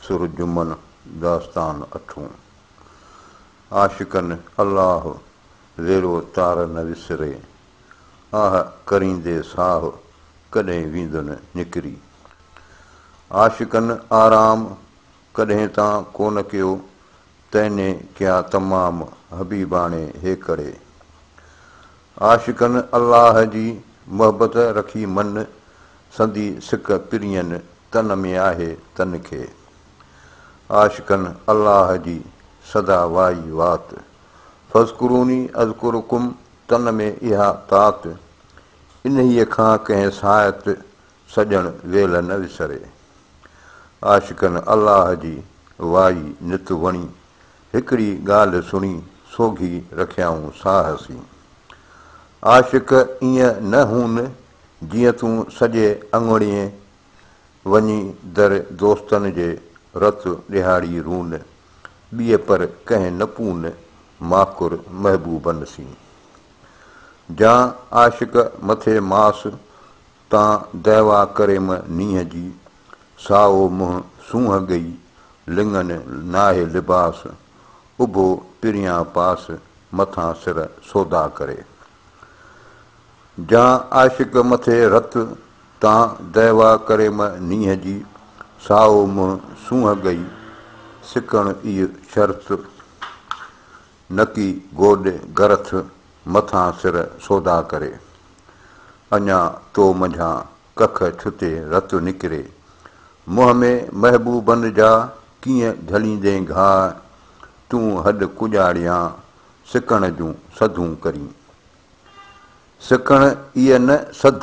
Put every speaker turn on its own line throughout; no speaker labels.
سرجمن داستان اٺون. عاشقن الله زيرو تار نه وسري، آه ڪريندي ساهه ڪڏهن ويندن نڪري. عاشقن آرام ڪڏهن تان ڪونه ڪيو، تنهني ڪيا تمام حبيباڻي هيڪڙي. عاشقن الله جي محبت رکي من، سندي سڪ پرين تن ۾ آهي تن کي. عاشقن الله جي سدا وائي وات، فاذڪروني اذڪرڪم تن ۾ اها تات، انهيء کان ڪنهن ساعت سڄڻ ويلهه نه وسري. عاشقن الله جي وائي نت وڻي، هڪڙي ڳالهه سڻي سوگهي رکيائون ساهه سين. عاشق ائين نه هون جيئن تون سڄي اڱڻي وڃي در دوستن جي رت ڏيهاڙي رون ٻيء پر ڪنهن نه پون ماڪر محبوبن سين. جان عاشق مٿي ماس تان دعويٰ ڪريم نينهن جي، سائو منهن سونهن ڳئي لڱن ناهي لباس، اڀو پريان پاس مٿان سر سودا ڪري. جان عاشق مٿي رت، تان دعويٰ ڪريم نينهن جي، سائو منهن سونهن ڳئي سڪڻ اي شرط، نڪي گوڏ گرٿ مٿان سر سودا ڪري. اڃا تو منجهان ڪک ڇتي رت نڪري. منهن ۾ محبوبن جا ڪيئن جهليندين گهاء. تون هڏ ڪڄاڙيان سڪڻ جون سڌون ڪرين. سڪڻ ايء نه سڌ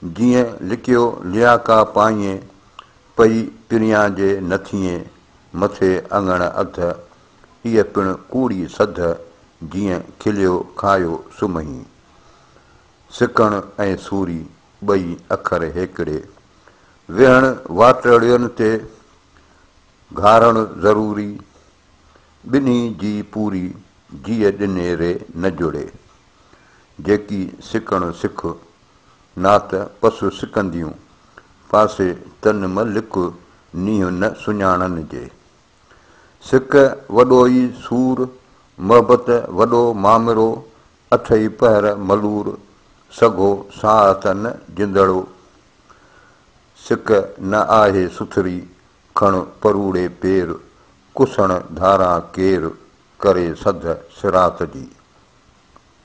جيئن لڪيو لياڪا پائين. پئي پريان جي نه ٿئين مٿي اڱڻ اڌ. ايء پڻ ڪوڙي سڌ جيئن کليو کايو سمهين. سڪڻ ۽ سوري ٻئي اکر هيڪڙي. ويهڻ واٽڙين تي گهارڻ ضروري. ٻنهي جي پوري جيء ڏني ري نه جڙي. جيڪي سڪڻ سک، نات پس سڪنديون. پاسي تن م لڪ، نيهه نه سڃاڻن جي. سڪ وڏو ئي سور، محبت وڏو مامرو، اٺئي پهر ملور، سگهو ساهه ته نه جندڙو. سڪ نه آهي سٿري، کڻ پروڙي پير، ڪسڻ ڌاران ڪير، ڪري سڌ صراط جي.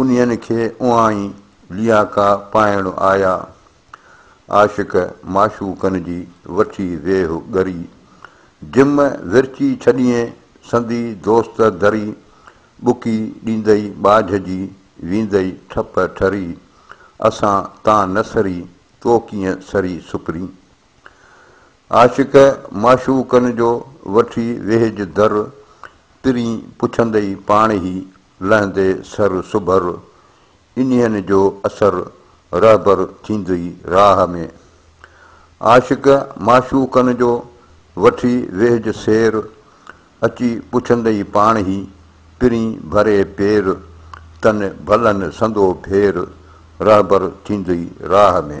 انهن کي اوهائي لياڪا پائڻ آيا. عاشق معشوقن جي وٺي ويهه ڳري. جم ورچي ڇڏيئين سندي دوست دري. ٻڪي ڏيندئي ٻاجهه جي ويندئي ٺپ ٺري. اسان تان نه سري تو ڪيئن سري سپرين. عاشق معشوقن جو وٺي ويهج در، پرين پڇندئي پاڻ هي لهندي سر سڀر، انهين جو اثر رهبر ٿيندئي راهه ۾. عاشق معشوقن جو وٺي ويهج سير، اچي پڇندئي پاڻ هي پرين ڀري پير، تن ڀلن سندو ڦير رهبر ٿيندئي راهه ۾.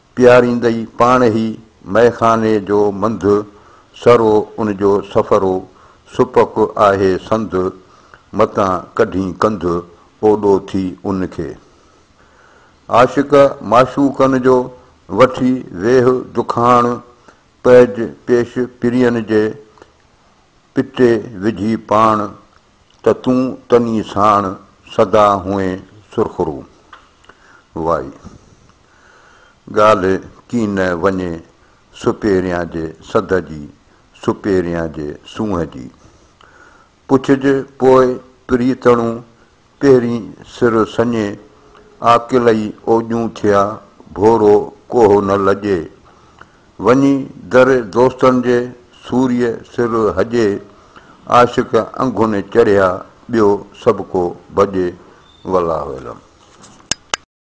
پياريندئي پاڻ هي مئي خاني جو منڌ، سرو ان جو سفرو، سپڪ آهي سنڌ، متان ڪڍين ڪنڌ، اوڏو ٿي ان کي. عاشق معشوقن جو، وٺي ويهه دکاڻ، پئج پيش پرين جي، پٽي وجهي پاڻ، ته تون تني ساڻ سدا هئين سرخرو. وائي! ڳالهه ڪين نه وڃي سپهريان جي سڌ جي، سپهريان جي سونهن جي. پڇج پوء پريتڻو پهرين سر سڃي، عاقل ئي اوڄون ٿئا، ڀورو ڪوهه نه لڄي. وڃي در دوستن جي سوريء سر هجي عاشق انگهوني چڙهيا ٻيو سڀڪو ڀڄي والله اعلم.